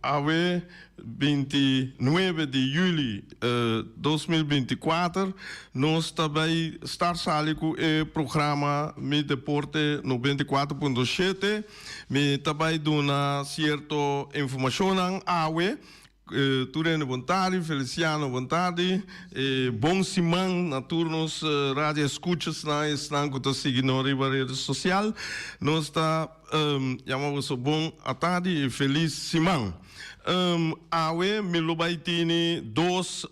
Awe binti nuebe di juli dos mil binti kuater nos ta bai start sali ku e programa Mi Deporte noventa i kuater punto shete. Mi ta bai duna sierto informashonnan awe. Tur hende bon tardi, Feliciano bon tardi i bon siman na tur nos radio eskuchasnan i esnan ku ta sigui nos riba rede sosial. Nos ta. Yama boso bon atadi i felis siman. Awe mi lo bai tini dos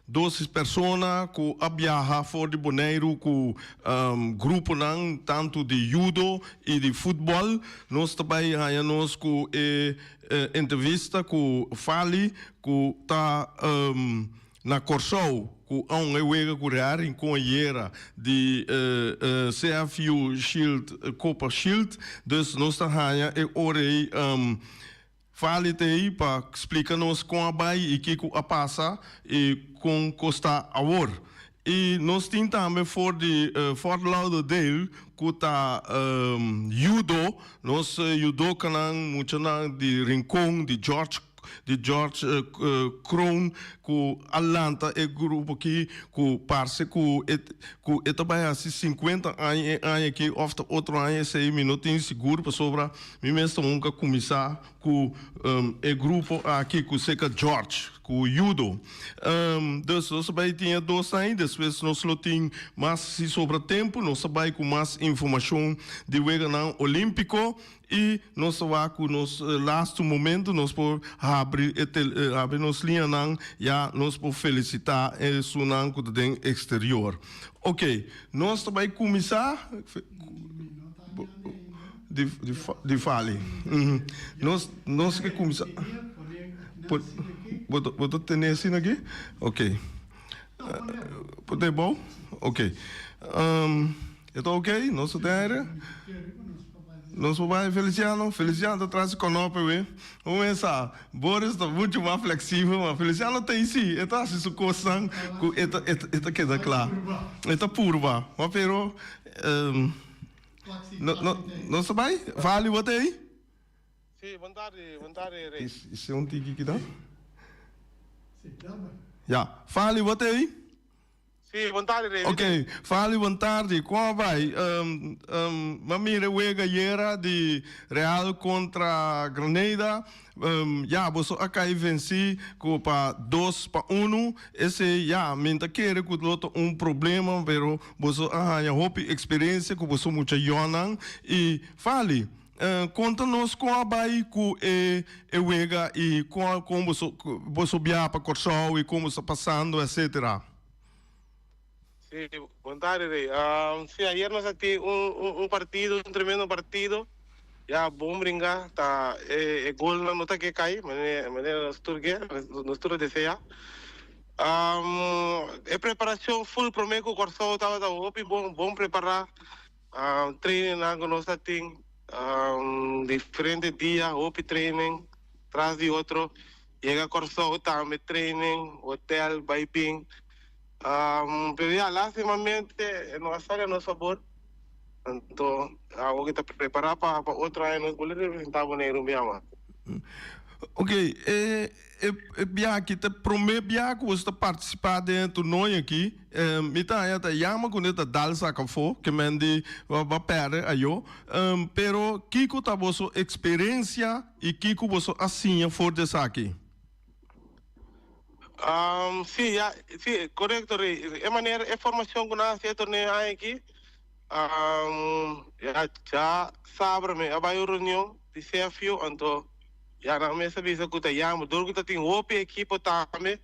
dos persona ku a biaha for di Boneiru ku gruponan tantu di yudo i di futbòl. Nos ta bai haña nos ku e entrevista ku Fally ku ta. Na Kòrsou ku aun e wega ku Real Rincon ayera di CFU Shield Copa Shield. Dus nos ta haña e ora ei valit ei pa splika nos kon a bai i ke ku a pasa i kon kos ta awor. I nos tin tambe for di Fort Lauderdale ku ta yudo nos yudokanan, muchanan di Rincon, di George. di George Kroon ku a lanta e grupo aki ku parse ku e ku e ta bai hasi sinkuenta aña e aña aki òf ta otro aña esei mi no tin sigur pasobra mi mes ta hunga kuminsá ku e grupo aki ku seka George ku yudo dus nos a bai tin e dos aña despues nos lo tin mas si sobra tempu nos a bai ku mas informashon di weganan olímpiko. I nos ta wak ku nos lastu momentu nos por habri e tel habri nos liñanan ya nos por felisitá esunnan ku ta den eksterior. Okey, nos ta bai kuminsá di fali. Nos nos ke kuminsá bo bo ta tene asina aki? Okey. Poné bo? Okey. E ta ok, nos ta den aire. Nos papá e Feliciano. Feliciano ta trase konope we. Un mes sa, Boris ta muchu mas fleksibel, ma Feliciano ta hisi. E ta hasi su kosnan ku e ta e ta keda kla. E ta purba. Ma pero, no no nos ta bai. Vali, bo ta ei? Si, bon tardi, bon tardi Rey. I si un tiki kidan? Ya. Vali, bo ta ei? Si, bon tardi Rey. Ok, Fali bon tardi. Kon a bai? M'a mira e wega ayera di Real kontra Granada. Ya, boso a kai vensi ku pa dos pa unu. Esei ya, mi ta kere ku lo ta un problema, pero boso a haña hopi eksperensia ku boso mucha yònan. I Fali. Konta nos kon a bai ku e e wega i kon a kon boso boso biaha pa Kòrsou i kon boso ta pasando etsetera. Si, bon tarde rei. Si, ayer nos a tin un un un partido, un tremendo partido. Ya bon bringa, ta e e golnan no ta ke kai manera manera nos tur ke, nos tur a desea. E preparacion ful prome ku Kòrsou tabata hopi bon, bon prepara. Trainingnan ku nos a tin diferente dia, hopi training tras di otro. Yega Kòrsou tambe training, hotel, bai bin. Pero ya, lastimamente no a sali a nos fabor. Anto awo ke ta prepará pa otro aña nos bole representá Boneiru bia mas. Oke, e E bia aki ta prome bia cu boso ta participa den e toernooi aki. Mi ta haña ta yama cu ne ta dal zak afo, ke men di ba perde ayo. Pero kico ta boso experencia y kico boso a siña for di esaki? Si, ya, si, corecto, Rey. E manera, e formacion cu nan a haci e toernooi aki, Am, Ya dja sabra mi a bai un reunion di CFU, anto ya nan mester bisa cu ta yama. Dor cu ta tin hopi ekipo tambe,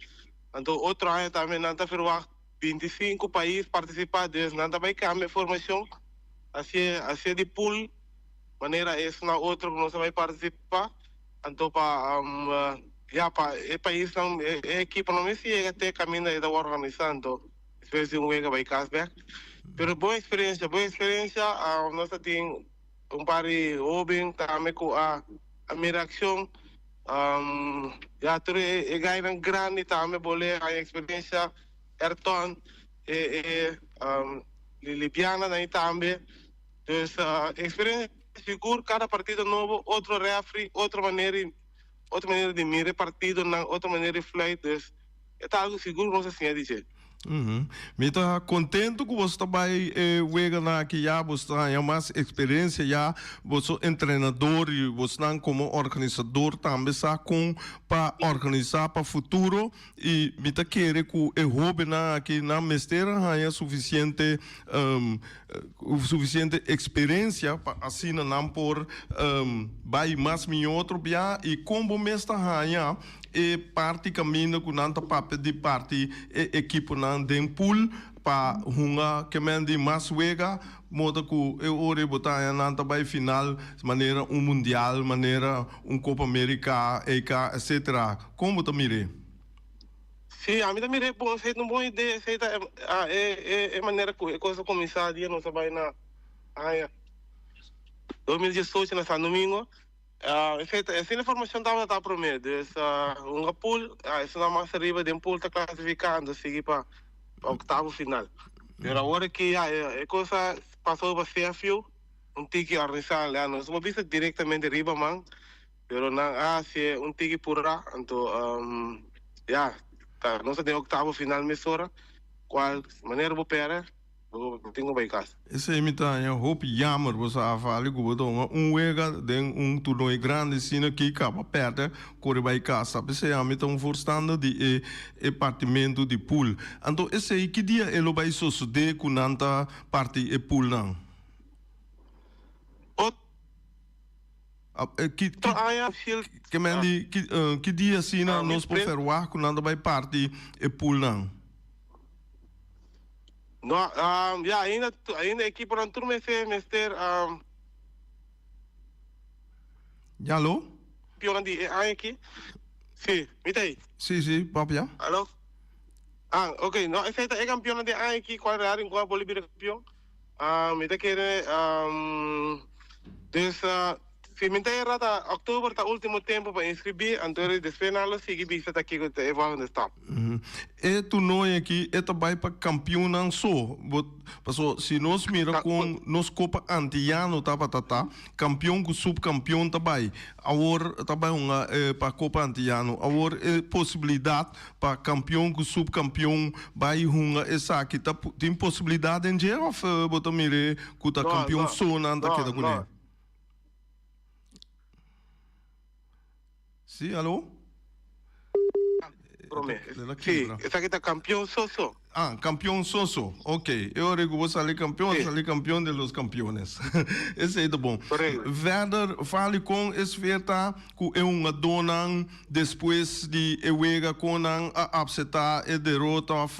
anto otro aña tambe nan ta verwacht binti sinku pais participa, dus nan ta bai cambia formacion, hacié hacié di pool, manera esnan otro cu nos ta bai participa, anto pa, am, ya pa e paisnan, e ekiponan mester yega te caminda e ta wor organisa, anto. Despues di un week a bai cas bek. Pero bon experiencia, bon experiencia. Um, nos a tin un par di hoben tambe cu a, a mira accion. Um, ya tur e, e gainan grandi tambe bol'e haña experiencia. Ayrton, e, e, um, li, Libiana na ey tambe. Dus, uh, experiencia sigur, cada partido nobo, otro referee, otro manera, otro manera di mira e partidonan, otro manera di fluit. Dus. E ta algu sigur nos a siña di dje. Uhum. Mi ta contento cu boso ta bay e weganan aki ya, boso ta haya mas experiencia ya, boso entrenador y bosnan como organizador tambe sa con pa organiza pa futuro y mi ta kere cu e hobennan aki nan mester a haya suficiente suficiente experiencia pa asina nan por bay mas mijo otro bia y con bo mes ta haya e parti kaminda ku nan ta papia di parti e ekiponan den pool pa hunga kemen di mas wega, modo ku e ora ei bo ta haña nan ta bai final manera un mundial, manera un Copa America, EK, etc. Kon bo ta mira ei? Si, ami ta mira ei bon, esei ta un bon idea, esei ta e manera ku e kos a kuminsá dia nos a bai na haña dos mil diesocho na San Domingo. Ah, efeto, e asina formacion tabata ta prome. Dus, ah, un a pool, ah, esunao mas arriba den pool ta clasificando, sigui pa, pa octavo final. Pero awor aki ya e, e cosa pasó pa CFU, un tiki organizado, ya nos no bisa directamente riba man, pero nan a haci un tiki purá, anto, um, ya, ta, nos ta den octavo final mesora, cual manera bo pera, Bo no tin ku bai kasa. Esei mi ta haña hopi jammer bo sa afali ku bo ta hunga un wega den un turnoi grandi sina ki kaba perde kore bai kasa p'esei ami ta un voorstander di e e partimentu di pool anto esei ki dia e lo bai sosode ku nan ta parti e pool nan bo ta haña hashil ke men di ki dia asina nos por ferwah ku nan ta bai parti e pool nan. No, um, ya, ainda, tu- ainda equiponan tur mester, mester um, Ya lo? pionan di e aña aquí. Sí, mi tá aí. Sí, sí, pap ya. Aló? Ah, ok, no, ese está e campeón de aña aquí, cual Real Rincón Bolivia campeón. Ah, mi ta kere am, dus ah, si mi ta era ta oktober ta ultimo tempo pa inscribí, anto ri despues nan lo sigui bisa ta kiko ta e volgende stap. Mhm. E toernooi aki e ta bai pa kampioennan so. Bo, paso si nos mira Ta, kon bo, nos kopa antillano tabata ta, kampioen ku supkampioen ta bai. Awor ta bai hunga eh, pa kopa antillano. Awor e posibilidat Pa kampion ku supkampion bai hunga esaki ta tin posibilidat den dje òf bo ta mir'é ku ta kampion so nan ta keda kuné? Sí, aló? Promé, sí, esaki ta kampion so so. Ah, campeon soso. Ok, e ora cu bo sali campeon, Sí. sali campeon de los campeones. Esey ta bon. Correcto. Verder, fali con e sfeer ta cu e hungadornan despues di e wega con nan a apseta e derota of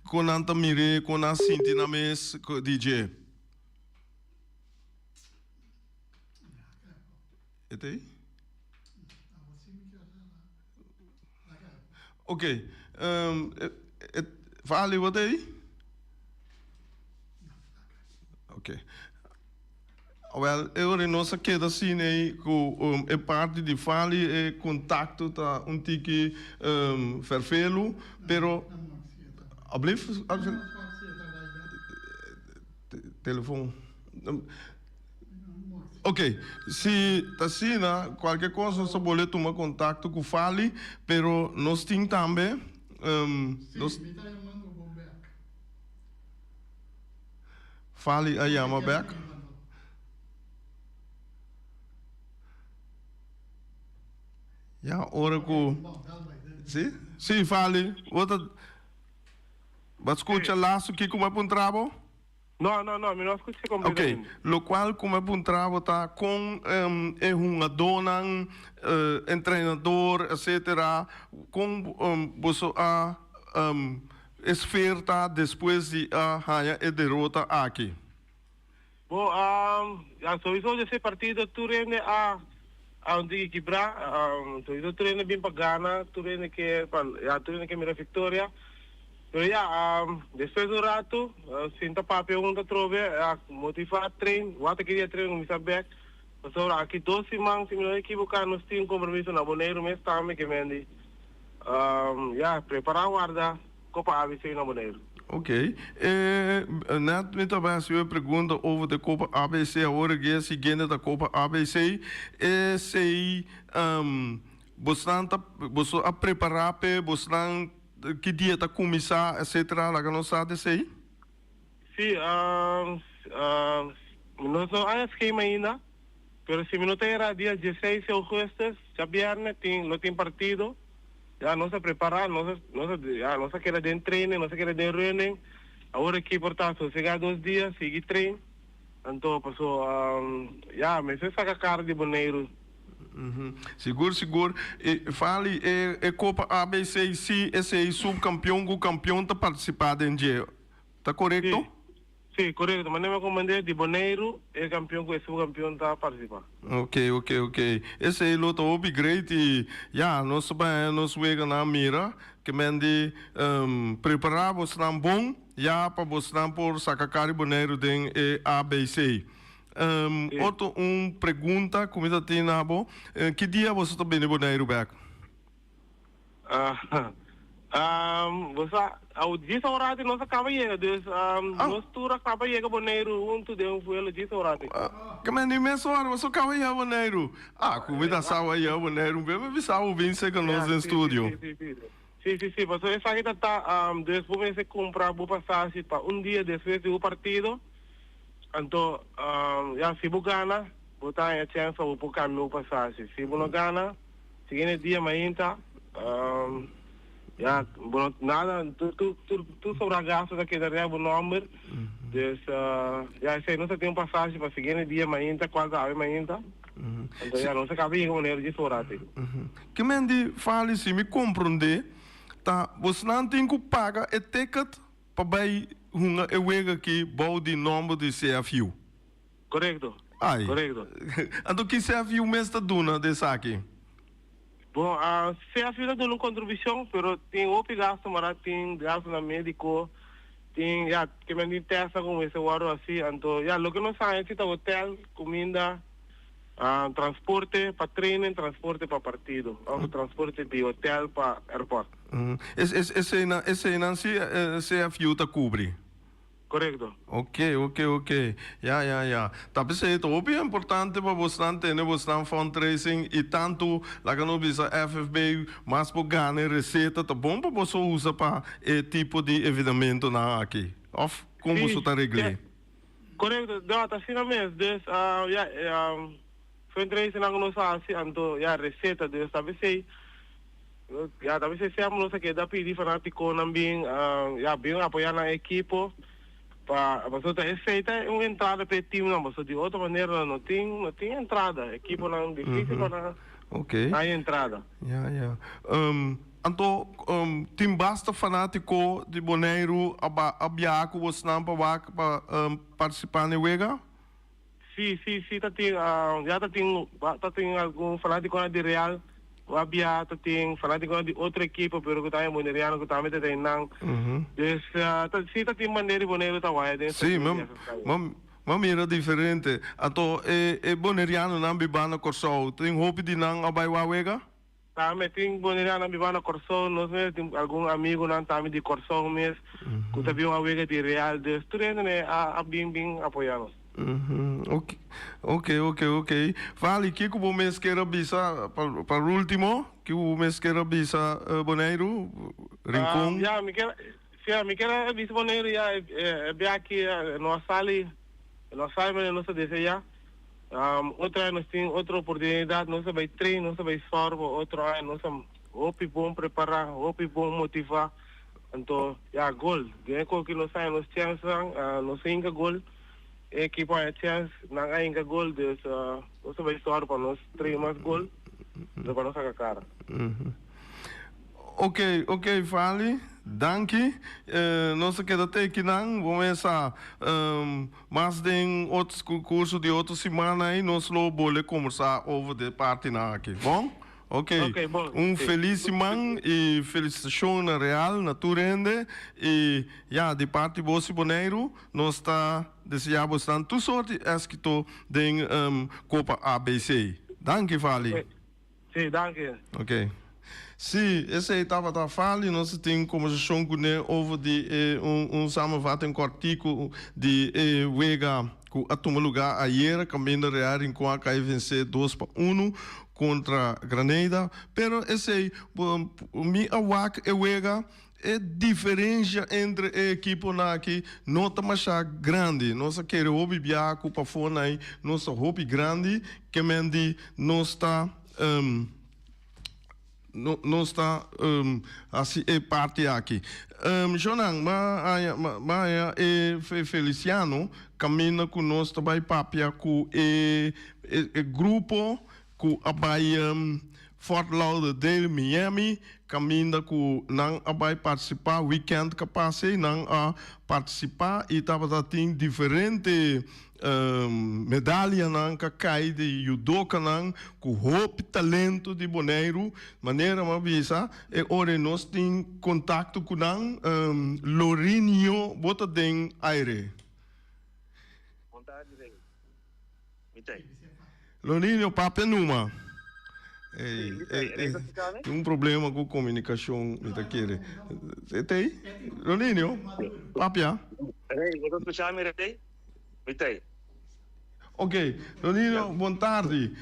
con nan ta mir'e, con nan sinti nan mes cu di dje. E ta ey? Oke, e verhaal ei wòrdu ei? Oke. Awèl, e ora nos a keda sin ei ku e parti di verhaal ei e kontakto ta un tiki vervelu, pero. Alblieft? Telefon. Ok, si ta asina, cualkier cos nos ta bol'e tuma contacto cu Fali, pero nos tin tambe, um, nos. Si, mi ta yamando bo bek. Fali a yama bek? Cu ta kere banta no? Ya ora cu. Ok, bon, bel bay den. Si? Si, Fali, bo ta, bo a scucha laso kico bo a puntra bo? No, no, no, mi no a scuch'e completamente. Ok, lo cual cu me puntra bo ta con e hungadornan, entrenador, etcetera, con boso a esfeer ta despues di a haya e derota aki? Bo, ya sowiso dje se partido tur hende a. Aun tin ki kibrá, todito tur hende bin pa gana, tur hende ke pa ya tur hende ke mira victoria. Pero ya despues di un ratu sinta papia huntu atrobe a motivá tren, wata ki dia tren kuminsá bek, pasobra aki dos siman si mi no ekiboká nos tin un kompromiso na Boneiru mes tambe ke men di ya prepará warda. Ko pa ABC na Boneiru? Ok. E Nat mi ta bai hasi bo e pregunta over te ko pa ABC awor aki a si kende ta ko pa ABC esei bosnan ta boso a prepara pe bosnan ki dia ta kuminsá etsetera laga nos sa di esei? Sí, nos no haña skema ainda, pero si mi no ta era dia diesseis i ougùstes, djabièrnè, tin, lo tin partido, ya nos a prepará, nos a, nos a, ya, nos a keda den treinen, nos a keda den reunen, awor aki por ta sosegá dos dia, sigui trein, anto, paso, ya, mester saka kar di Boneiru. Sigur sigur Fali e copa abc si esey subcampeon cu campeon ta participa den dje ta corecto? Si corecto manera mi a comprende di Boneiru e campeon cu e subcampeon ta participa. Ok ok ok esey lo ta hopi great y ya nos ta bay e nos weganan mira ke men di prepara bosnan bon ya pa bosnan por saca kari Boneiru den e abc. Otto un pregunta cu mi ta tin na bo, ki dia boso ta bini Boneiru bek? Bo sa, djis ora tin nos a caba yega, dus nos tur a caba yega Boneiru huntu den un vuelo djis ora tin. Caminda di mes ora boso caba yega Boneiru? Cu mi ta sa bo a yega Boneiru un bes mi a bisa bo bin seca nos den studio. Si si si paso esaki ta ta des bo mester cumpra bo pasashi pa un dia despues di bo partido anto ya si bo gana bo ta haya chance pa bo por cambia bo pasashi si bo no gana siguiente dia mainta ya bo no nada tur sobra gasto ta keda riba bo nomber dus ya esaki nos ta tin un pasashi pa siguiente dia mainta cual ta habi mainta. Anto ya nos a caba yega manera dje sora asin. Ke men di Fali si mi comprende ta bosnan tin cu paga e ticket pa bay hunga e wega aki bou di nomber di CFU? Correcto, Ay, correcto. anto ki CFU mes ta duna di esaki? Bo a sea fina duna un contribucion pero tin hopi gasto mara tin gasto na medico tin ya ke men tin testnan cu mester wordo asi anto ya loke nos haya si ta hotel, cuminda, transporte pa training, transporte pa partido of transporte di hotel pa airport. Eseynan eseynan si CFU ta cubri? Korekto. Oke, oke, oke. Ya, ya, ya. Ta p'esei ta hopi importante pa bosnan tene bosnan fundraising i tantu, laga nos bisa FFB, mas bo gana e reseta ta bon pa boso usa pa e tipo di evenamentonan aki. Òf kon Si, boso ta regl'é? si. Korekto. Ya, t'asina mes. Des, ya, Fundraisingnan ku nos a hasi anto ya reseta debe sta bisei, ya ta bisei sèp nos a keda pidi fanatikonan bin ya bin apoyá nan ekipo pa pasobra ta esei ta un entrada pa e timnan pasobra di otro manera nan no tin no tin entrada ekiponan difisil pa nan haña entrada. Ya ya anto tin basta fanatiko di Boneiru a a biaha ku bosnan pa wak pa partisipá n'e wega? Si si si ta tin ya ta tin ta tin algun fanaticonan di Real cu a bia ta tin fanaticonan di otro ekipo pero cu tambe Boneriano cu tambe ta den nan dus ta si ta tin manera di Bonero ta waya den esaki di esaki stadium. Si mami ma mira diferente anto e e Bonerianonan biba na Corsou tin hopi di nan a bay wak wega? Tambe tin bonianan biba na Kòrsou, nos mes tin algun amigunan tambe di Kòrsou mes ku ta bin wan wega di Real, dus tur hende a bin bin apoyá nos. Oke, oke, oke, oke. Vali, ke ku bo mes kier a bisa pa pa rúltimo? Ke ku bo mes kier a bisa, Boneiru, Rincon? Ya, mi kier. Siñor, mi kier a bisa bo ne'e riba e biaki, e no a sali, e no a sabi manera nos ta desea. Otro aña nos tin otro oportunidad, nos a bai train, nos a bai sòrb bo. Otro aña nos a hopi bon prepará, hopi bon motivá. Anto, ya, gol. Den e koki nos a haña nos chènsnan, nos a hinka gol. E ekipo a haña chèns, nan a hinka gol. Dus, nos a bai sòrb pa nos trae mas gol riba nos a kakara. Ok ok Fali, danki. Nos ta keda ta ekinan. Bo mesa mas den otro concurso di otro simana ei, nos lo bol'e combersa over di e partinan aki. Bon? Ok. Un feliz siman i felicitacionnan real na tur hende. I ya, di parti bo si Boneiru, nos ta desea bo esnan tur sort i éskito den Copa ABC. Danki Fali. Sí, danki. Ok. Sí, esei tabata Fali y nos a tin un conversacion cu ne over di e un un samenvatten cortico di e wega cu a tuma lugar ayer caminda Real Rincon a cay vence dos pa uno contra Granada. Pero esei bo mi a wak e wega. E diferensia entre e ekiponan aki no ta masha grandi. Nos a kere hopi bia ku pafó na ei nos ta hopi grandi, ke men di nos ta nos ta hasi e parti aki. Jonan, bo a haña e Feliciano kaminda ku nos ta bai papia ku e grupo ku a bai Fort Lauderdale, Miami, kaminda ku nan a bai partisipá wikènt ka pas ei nan a partisipá i tabata tin diferente medalianan ka kai di yudokanan ku hopi talento di Boneiru manera mi a bisa e ora nos tin kontakto ku nan Lorinio bo ta den aire. Lo niño papia e numa. Tin un problema cu comunicacion mi ta kere. Tey? Lo niño papia. Rey, bo ta scucha mi Rey? Mi tey. Ok, lo niño bon tardi.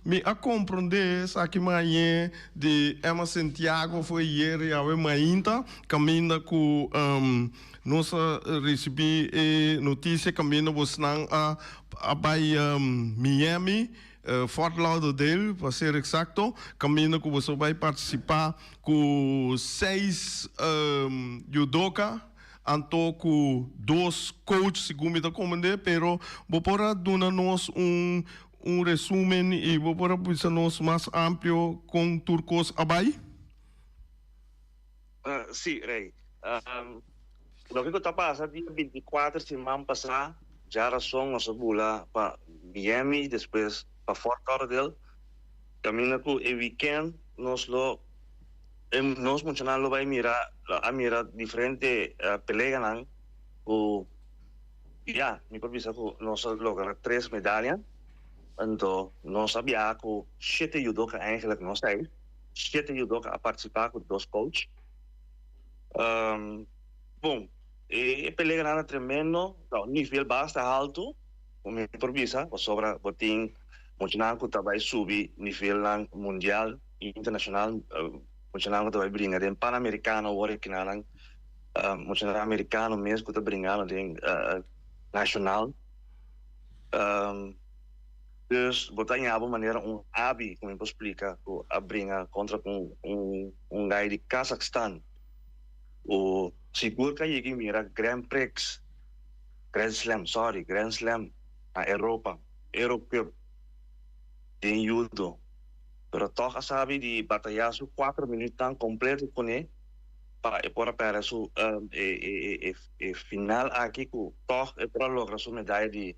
Mi a comprende esaki mañe di Emma Santiago fo'i yere yawe mainta caminda cu Nos a ricibi e noticia caminda bosnan a a bay Miami, Fort Lauderdale pa ser exacto, caminda cu boso bay participa cu seis judoka anto cu dos coach segun mi ta comende, pero bo por a duna nos un un resumen y bo por a bisa nos mas amplio con tur cos a bay? Sí, Rey. Loke ku ta pasa dia binti i kuater siman pasá, dja rason nos a bula pa Miami i despues pa Fort Lauderdale. Kaminda ku e wikènt nos lo nos muchanan lo bai mira lo a mira diferente peleanan ku ya mi por bisa ku nos a logra tres medalha. Anto nos a biaha ku shete yudoka, eigenlijk, nos ei. siete yudoka a participa cu dos coach. Bon, e pelea grandi ta tremendo, nivel bas ta alto, cu mi por bisa, pasobra bo tin muchanan cu ta bay subi nivelnan mundial y internacional, muchanan cu ta bay bringa den Panamericano awor e kinanan, muchanan Americano mes cu ta bringando den Nacional. Dus bo ta ña bo manera un abi ku mi por splika ku a bringa kontra ku un gai di Kazakstan ku sigur ku a yega i mira Grand Prix, Grand Slam, sòri, Grand Slam na Europa, Euro Cup den yudo, pero tòg a sabi di batayá su kuater minütnan kompleto kuné pa e por a pèrdè su e final aki ku tòg e por a logra su medaya di.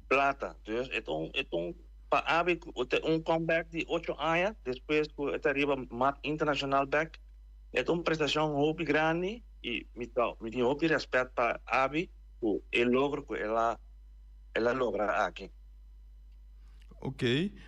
Plata. Dus e ta un e ta un pa Aby ta un comeback di ocho aña despues cu e ta riba map internacional bek. E ta un prestacion hopi grandi y mi ta mi tin hopi respect pa Aby cu e logro cu el a el a logra aki. Oké.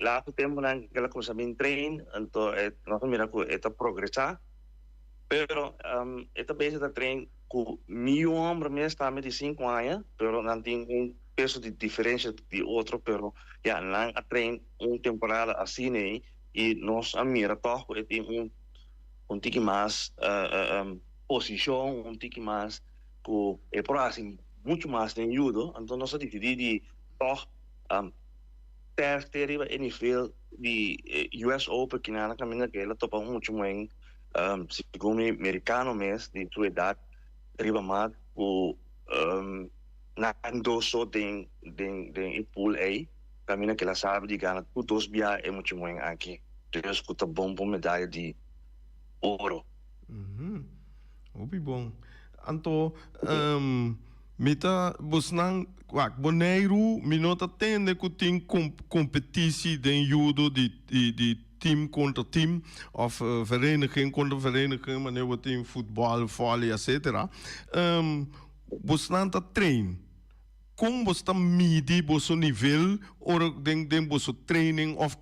Lato temponan ke la cuminsa bin train anto nos a mira cu e ta progresa pero e ta bezig ta train cu miyu homber mes tambe di cinco aña pero nan tin un peso di diferencia di otro pero ya nan a train un temporada asina y nos a mira tog cu e tin un un tiki mas posicion un tiki mas cu e por a haci mucho mas den judo anto nos a decidi di tog. Test te riba e nivel di US Open ki nan a kaminda ke el a topa muchu moen, segun mi, merikano mes di su edat riba mat ku nan doso den den e pool ei, kaminda ke el a sabi di gana tur dos bia e muchu moen aki, dus ku ta bon pa un medaya di oro. Hopi bon. Anto. Mi ta busnan wak Boneiru, mi no ta tende ku tin kompetisi den yudo di tim kontra tim òf vereniging kontra vereniging manera bo tin futbòl, vòlei etsetera. Busnan ta trein. Kon boso ta midi boso nivel ora den den boso training òf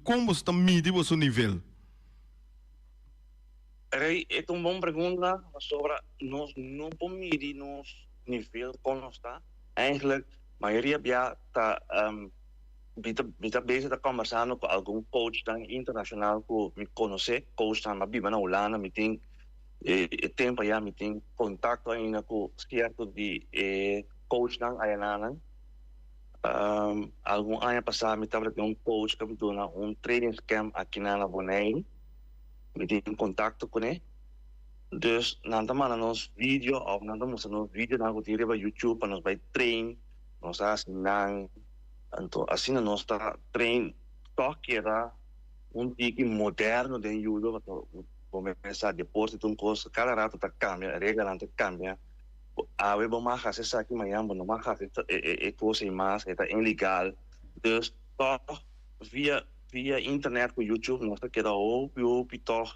kon boso ta midi boso nivel? Rey, e ta un bon pregunta pasobra nos no por midi nos nivel con nos ta. Eigenlijk, mayoria bia ta, mi ta, mi ta bezig ta conversando cu algun coachnan internacional cu mi conoce, coachnan a biba na Hulanda, mi tin e tempo aya, mi tin contacto ainda cu cierto di e coachnan ayananan. Algun aña pasa mi tabata den un coach cu a duna un trainingscamp aki na Bonaire. Mi tin kontakto kuné. Dus nan ta manda nos video òf nan ta mustra nos videonan ku tin riba YouTube pa nos bai train nos asinan. Anto asina nos ta train tòg keda un tiki moderno den yudo pasobra ku bo mes sa deporte ta un kos ku kada rato ta kambia, e reglanan ta kambia. Awe bo mag hasi esaki mañan bo no mag hasi e kos ei mas, e ta inlegal. Dus tòg via. Via internet cu YouTube nos ta keda hopi hopi tog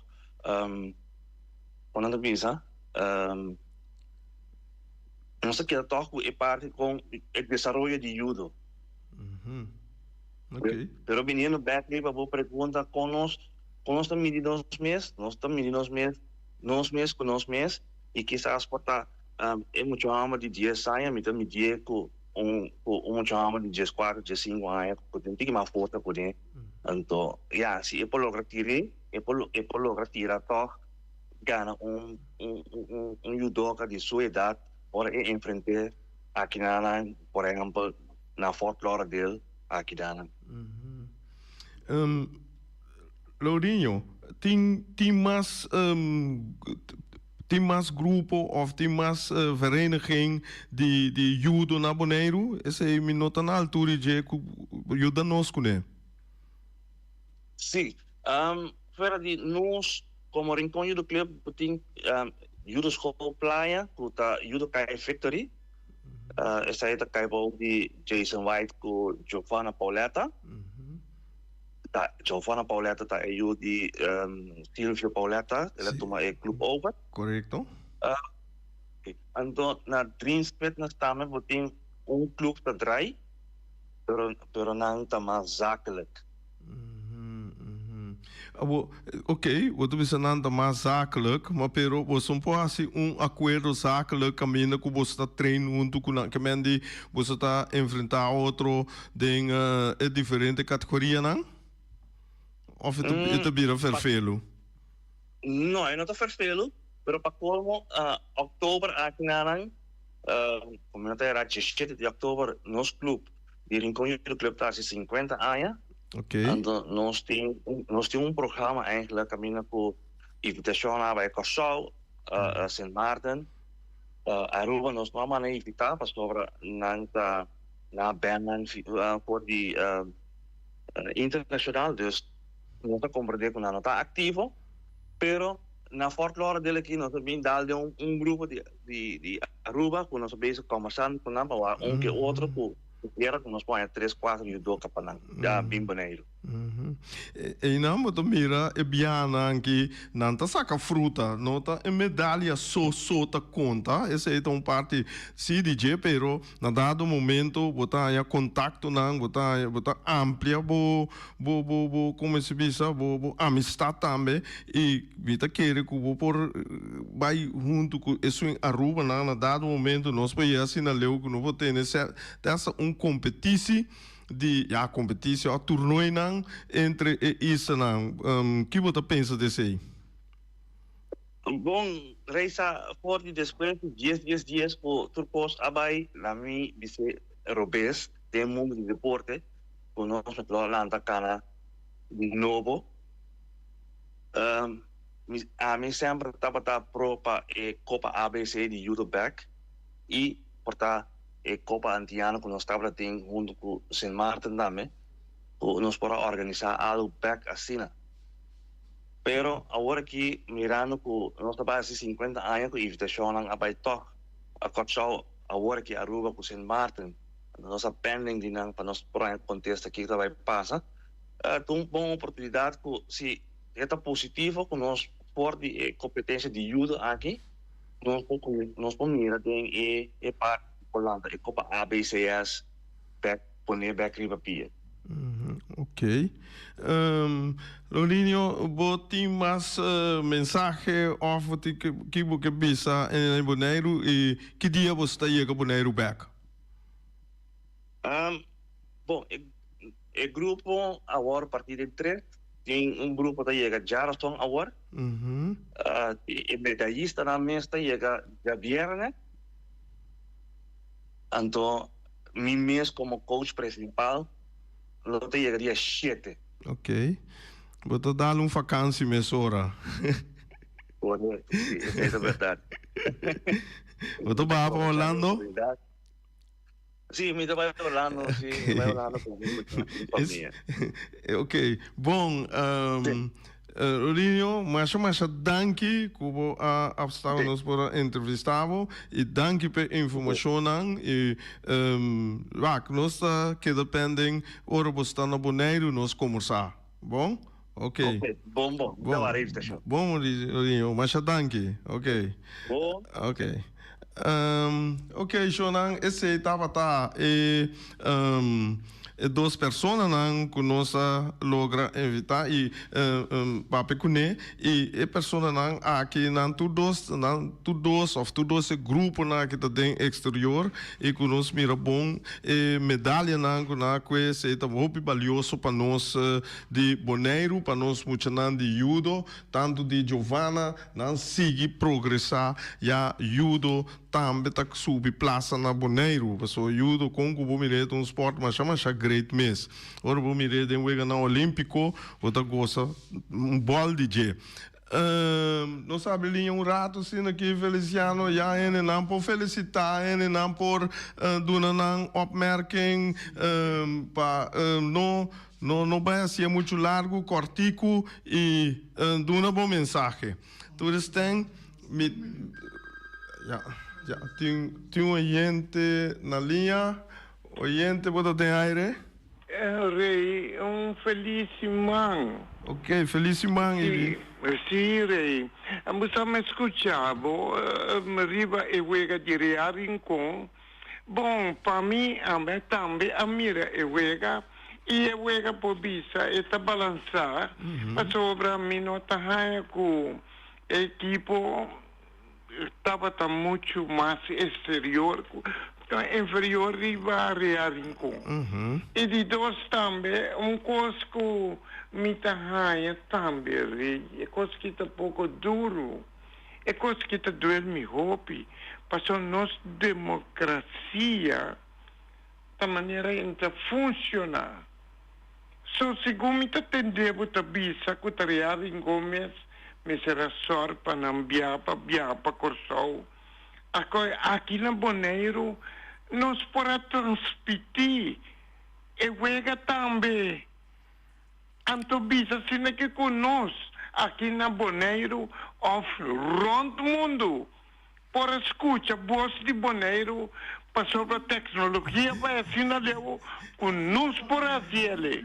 con nan ta bisa nos ta keda tog cu e parti con e desaroyo di judo. Pero biniendo back riba bo pregunta con nos con nos ta midi nos mes nos ta midi nos mes nos mes cu nos mes y kisas por ta e muchanan di dies aña mi ta midi'e cu Un mucha homber di dies cuatro, dies cinco aña cu tin tigi mas forza cu ne. Anto, ya, si e por logra tiri, e por, e por logra tira tog gana un, un, un, un judoka di su edad ora e enfrente akidanan, por ehempel, na Fort Lauderdale akidanan. Lourinho, tin, tin mas. Tin mas grupo of tin mas vereniging di di yudo na Boneiru? Esei mi no ta na altura di dje ku por yuda nos kuné. Si. Fuera di nos komo Rincon Yudo Club bo tin Yudo Skol Playa ku ta Yudo Kai Victory. Esei ta kai bou di Jason White ku Giovanna Pauletta. Ta Giovanna Pauletta ta e yu di Silvio Pauletta el a tuma e club over. Correcto. Anto na Dreamspet na Stamer bo tin un club ta draai pero pero nan ta mas zakelijk. Abo Ok, bo ta bisa nan ta mas zakelek, ma pero boso por hasi un akuerdo zakelek kaminda ku boso ta train huntu ku nan. Kemen di boso ta enfrentá otro den e diferente kategorianan? Òf e ta bira ferfelu? No, e no ta ferfelu, pero pa kolmo òktober aki na nan, kòm nan ta hera dieshete di òktober nos klub. di Rincon Youth Club ta haci cincuenta aña, anto nos tin nos tin un programa eigenlijk caminda cu invitacion na bay Curaçao, Sint Maarten, Aruba nos no a manda invita pasobra nan ta na bennan for di internacional, dus nos a comprende cu nan no ta activo pero. Na Fort Lauderdale aki nos a bin dal den un grupo di Aruba ku nos a bezig kòmbersando ku nan, a un ke otro ku kera ku nos poña tres kuater yudoka pa nan ya a bin Boneiru. Einan bo ta mira e biahanan aki nan ta saka fruta, no ta e medalia so so ta konta, esei ta un parti si di dje pero Na dado momento bo ta haña contactonan, bo ta haña, bo ta amplia bo, bo, bo, bo, como se bisa, bo, bo amistad tambe, y mi ta kere cu bo por bay hunto cu esun Aruba nan, na dado momento nos por yega asina leu cu nos por tene cer, te hasta un competici di, ya competici, o turnoinan entre e islanan, kibo ta pensa di esey? Bon reisa for di despues di dies dies dies cu tur cos a bay. Na mi bis'e robes den mundo di deporte cu nos lo pulo lanta cana di nobo. Ami semper tabata pro pa e copa ABC di Europe bek y por ta e copa antiano cu nos tabata tin hunto cu Sint Maarten tambe cu nos por a organisa algo bek asina. Pero awor aki mirando cu nos ta bai haci cincuenta aña cu invitacionnan a bai tok pa Curaçao, awor aki Aruba cu Sint Maarten nos ta pending di nan pa nos por a contesta kico ta bai pasa, ta un bon oportunidad cu si e ta positivo cu nos for di e competencia di judo aki nos por nos por mira den e e parti di Holanda, e copa ABCS, Bek. Pone bek riba pie. Ok. Lolinio, bo tin mas mensahe of bo tin ki bo ke bisa na Boneiru i ki dia bo sta yega Boneiru bek? Bon, e grupo awor parti den tres. Tin un grupo ta yega djaraston awor. E medaistanan mes ta yega djabièrnè. Anto. Mi mes como coach principal lo ta yega dia shete. Ok. Bo ta dal un vakansi mesora. Corect, si. E mester berdad. Bo ta baha pa Orlando? Si, mi ta bai Orlando, si. Mi ta bai Orlando cu mi familia. Ok, bon. Rinio, masha masha danki ku bo a apstaba nos por a entrevista bo i danki pa e informashonnan i wak nos ta keda penden ora bo sta na Boneiru nos kombersa bon ok bon bon bon Rinio masha danki ok ok. Ok, sho nan esei tabata e e dos personanan ku nos a logra invitá i papia kuné. I e personanan aki nan tur dos nan tur dos òf tur dos e gruponan aki ta den eksterior i ku nos mira bon e medalianan ku nan a kue esei ta hopi balioso pa nos di Boneiru, pa nos muchanan di yudo, tantu di Jovana. Nan sigui progresá ya yudo tambe ta subi plasa na Boneiru paso yudo kon ku bo mir'é ta un sport masha masha great mes ora bo mir'é den weganan olímpiko bo ta gosa un bòl di dje nos ta habri liña un ratu asina aki Feliciano ya hende nan por felisitá hende nan por duna nan opmerking pa no No no bai haci'e mucho largo, cortico y duna bo mensahe. To the stand mi ya ya tin tin un oyente na liña. Oyente bo ta den aire. Rey un feliz siman. Ok feliz siman y di. Si Rey bo sa mi scucha bo riba e wega di Real Rincon. Bon, pa mi, ami tambe a mira e wega, i e wega por bisa e ta balansá, pasobra mi no ta haña ku e ekipo tabata muchu mas eksterior, ku ta inferior riba Real Rincon. I di dos tambe, un kos ku mi ta haña tambe, e kos ki ta poko duru. E kos ki ta duel mi hopi pasobra nos demokrasia ta manera en ta funsiona. So segun mi ta tende bo ta bisa ku ta Rearing Gomez mester a sòr pa nan bia pa bia pa Kòrsou. Akoi aki na Boneiru nos por a transpití e wega tambe. Anto bisa asina ke ku nos aki na Boneiru òf rònt mundu por a skucha bos di Boneiru pasobra teknologia bai asina leu ku nos por a hasi el'e.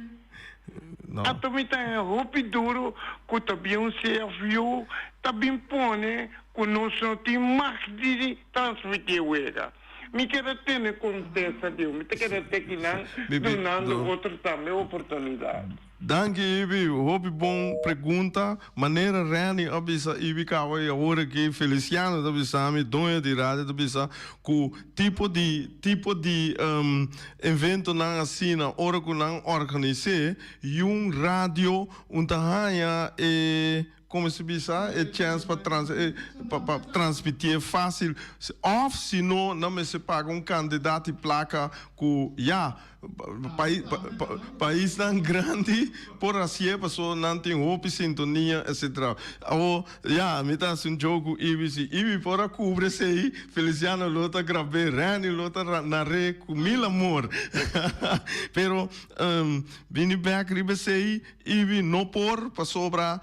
Anto mi ta hen hopi duru ku ta bin un CFU ta bin pone ku nos no tin màgt di transmití e wega. Mi keda tene kontesta di ho. Mi ta keda te aki nan, dunando otro tambe oportunidat. Danki Ibi, hopi bon pregunta. Manera Renny a bisa Ibi kawa i awor aki Feliciano ta bisa mi, doño di radio ta bisa ku tipo di tipo di eventonan asina ora ku nan organis'é, yun radio un ta haña e Como si bisa e chance pa transmitié fácil of si no nan mester paga un cantidad di placa cu ya paisnan grandi por hacié paso nan tin hopi sintonia etc. Awo ya mi ta haci un joke cu Ibi si Ibi por a cubri esey Feliciano lo ta grabé Renny lo ta naré cu mil amor pero bini back riba esey. Ibi no por pasobra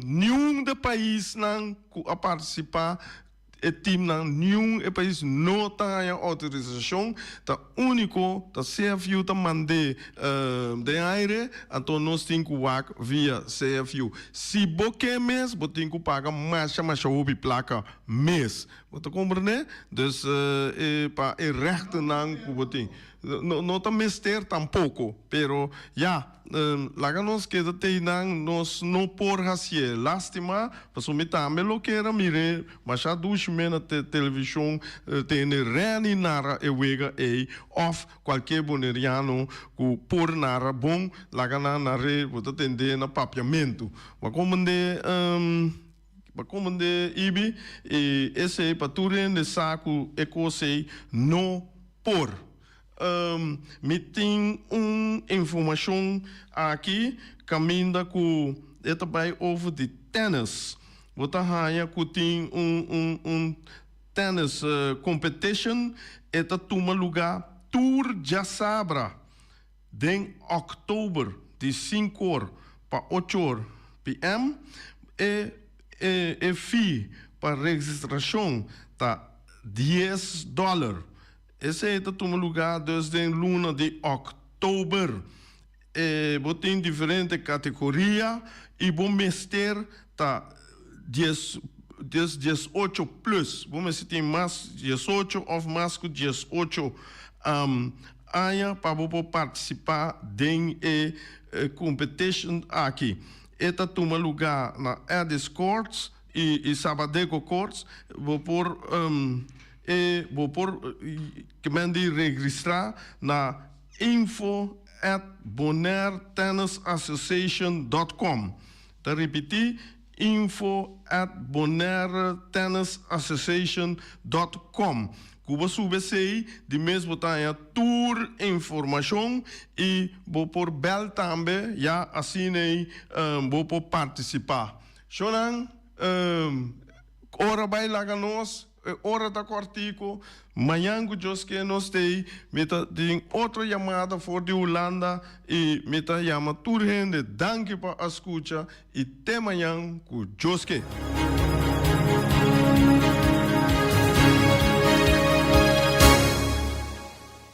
niun de paisnan ku a partisipá e timnan niun e pais no ta haña outorisashon ta úniko ta CFU ta mand'é den aire anto nos tin ku wak via CFU si bo ke mes bo tin ku paga masha masha hopi plaka mes bo ta komprendé dus e pa e rèktenan ku bo tin no ta mester tampoko pero ya. Laga nos keda t'ei nan nos no por haci'e. Lastima, pasobra mi tambe lo kera mir'e masha dushi mei na television tende Reni nara e wega ei of cualkier Boneriano cu por nara bon laga nan nar'e bo ta tende na papiamento. Bo a comende bo a comende Ibi y esei pa tur hende sa cu e cos ei no por. Mi tin un informacion aki caminda cu e ta bay over di tennis. Bo ta haya cu tin un un un tennis competition e ta tuma luga tur diasabra den October di cinco or pa ocho or PM. E e e fee pa registracion ta dies dollar. Esei ta tuma lugá dus den luna di òktober. E bo tin diferente kategoria i bo mester ta dies des dies ocho plus. Bo mester tin mas dies ocho òf mas ku dies ocho aña pa bo por partisipá den e kompetishon aki. E ta tuma lugá na Addis Courts. E Sabbathego Courts bo por e bo por ke men di regristra na info at bonairtennisassociation.com. Ta ripití info at bonairtennisassociation.com ku bo sube esei di mes bo ta haña tur informashon i bo por bèl tambe ya asin'ei bo por partisipá. Shonan, E ora bai laga nos, e ora ta kòrtiku. Mañan ku Dios ke nos stay mi ta tin otro yamada for di Hulanda i mi ta yama tur hende. Danki pa a skucha i te mañan ku Dios ke.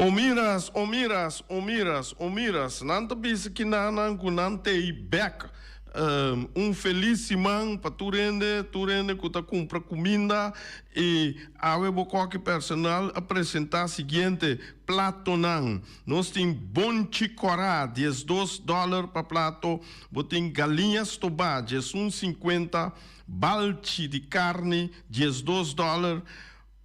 Omiras, omiras, omiras, omiras, nan ta bisa kinanan ku nan tei bèk. Un felis siman pa tur hende, tur hende ku ta kumpra kuminda i awe bo koki personal a presentá siguiente platonan. Nos tin bonchi kòrá, diesdos dòler pa plato, bo tin galiña stobá, diesun sinkuenta, balchi di karni, diesdos dòler,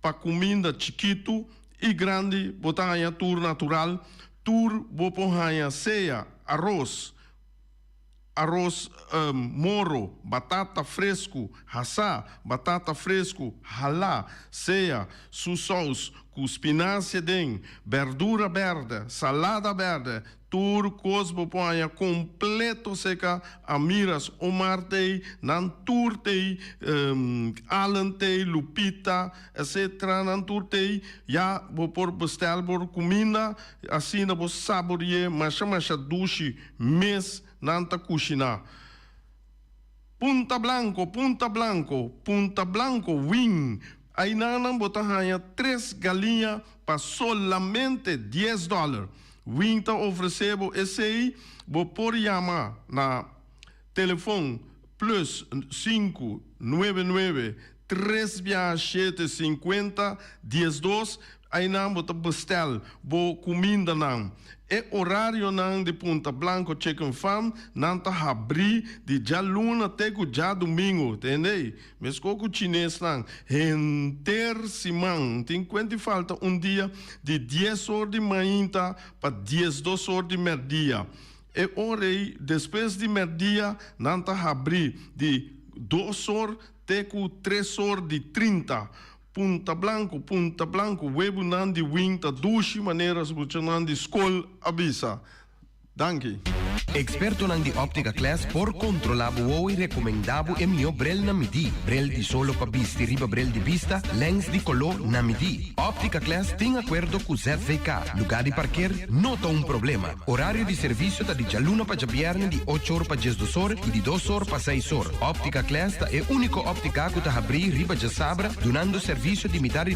Pa cuminda chikitu y grandi bo ta haña tur natural, tur bo por haña sea aros, aros moro, batata frescu hasa, batata frescu hala, sea su saus cu spinacia den, berdura berde, salada berde, Tur cos bo por haña completo seca Amiras, Omar tey, nan tur tey, Allen tey, Lupita, etc. Nan tur tey ya bo por bestel bo cuminda asina bo saborié masha masha dushi mes nan ta cushina. Punta blanco, punta blanco, punta blanco win. Ainanan bo ta haña tres galiña pa solamente dies dòler. Win ta ofresé bo esei. Bo por yama na telefòn plus sinku nuebe nuebe Tres biaha shete sinkuenta diesdos aynan bo ta bestel bo kumindanan. E orarionan di Punta Blanco Chicken Farm nan ta habri di djaluna te ku djadumingu, tende? Mesko ku chinesnan, henter siman, tin kuenti falta un dia di dies or di mainta pa diesdos or di merdia. E ora ey, despues di merdia, nan ta habri di dos or Te ku tres or di trinta. Punta blanku, punta blanku, webunan di wing ta dushi manera sukuchanan di skol a bisa. Danki. Ekspertonan di Optica Class por kontrolá bo wou i rekomendá bo e mihó brel na midí, brel di solo pa bisti riba brel di bista, lèns di koló na midí. Optica Class tin akuerdo ku ZVK, lugá di parker no ta un problema. Orario di servicio ta di djaluna pa djabièrnè di ocho or pa diesdos or y di dos or pa seis or. Optica Class ta e unico optica cu ta habrí riba djasabra dunando servicio di mitar di